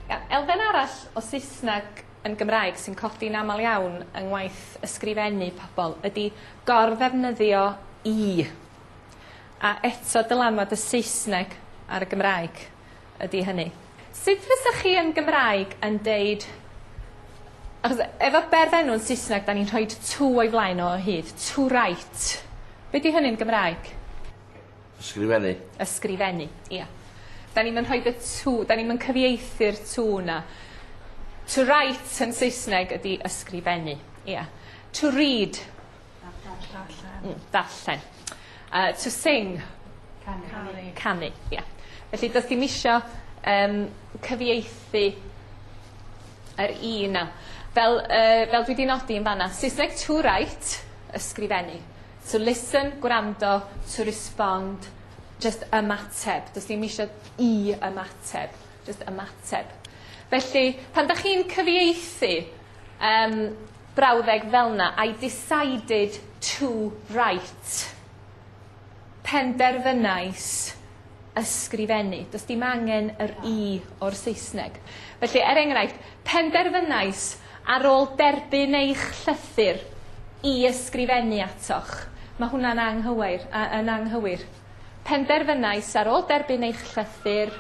Ia, elfen arall o Saesneg yn Gymraeg sy'n codi'n amal iawn yng ngwaith ysgrifennu pobol ydi gor-ddefnyddio i. A eto dylanwad y Saesneg ar y Gymraeg. ydi hynny. Sut fysach chi yn Gymraeg yn deud achos efo berfenw yn Saesneg 'dan ni'n rhoid to o'i flaen o o hyd. To write. Be' 'di hynny'n Gymraeg? Ysgrifennu. Ysgrifennu, ia. 'Dan ni'm yn rhoid y to 'dan ni'm yn cyfieithu'r to 'na. To write yn Saesneg ydi ysgrifennu, ia. To read. Darllen. Mm, darllen. Uh, to sing. Canu. Canu, ie. Yeah. Felly, does dim isio um, cyfieithu yr i yna. Fel, uh, fel dwi wedi nodi yn fanna, Saesneg to write, ysgrifennu. To listen, gwrando, to respond, just ymateb. Does dim eisiau i ymateb, just ymateb. Felly, pan da chi'n cyfieithu, um, Brawddeg fel'na, I decided to write, penderfynais ysgrifennu. Does dim angen yr i o'r Saesneg. Felly, er enghraifft, penderfynais ar ôl derbyn eich llythyr i ysgrifennu atoch. Mae hwnna'n anghywair, a, yn anghywir. penderfynais ar ôl derbyn eich llythyr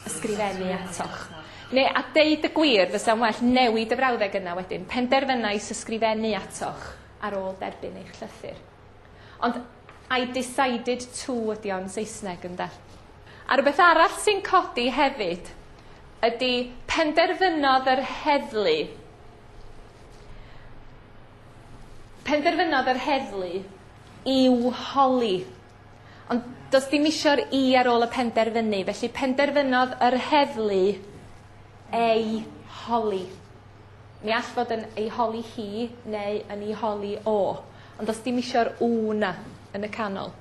ysgrifennu atoch. Neu, a deud y gwir, fysa'n well newid y frawddeg yna wedyn, penderfynais ysgrifennu atoch ar ôl derbyn eich llythyr. Ond I decided to ydi o'n Saesneg ynde? A rhywbeth arall sy'n codi hefyd ydy penderfynodd yr heddlu Penderfynodd yr heddlu i'w holi. Ond does dim isio'r i ar ôl y penderfynu, felly penderfynodd yr heddlu ei holi. Mi all fod yn ei holi hi neu yn ei holi o, ond does dim isio'r w 'na yn y canol.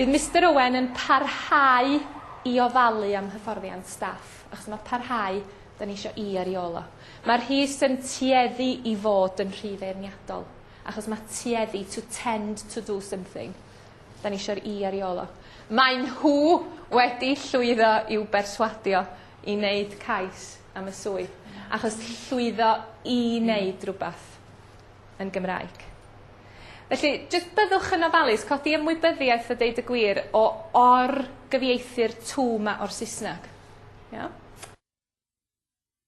Bydd Mister Owen yn parhau i ofalu am hyfforddiant staff, achos mae parhau, da ni eisiau i ar i ôl o. Mae'r Rhys yn tueddu i fod yn rhy feirniadol, achos mae tueddu, to tend to do something, da ni eisiau'r i ar i ôl o. Maen nhw wedi llwyddo i'w berswadio i wneud cais am y swydd achos llwyddo i wneud rhywbeth yn Gymraeg. Felly, jyst byddwch yn ofalus, codi ymwybyddiaeth a deud y gwir o or-gyfieithu'r tŵ 'ma o'r Saesneg. Iawn?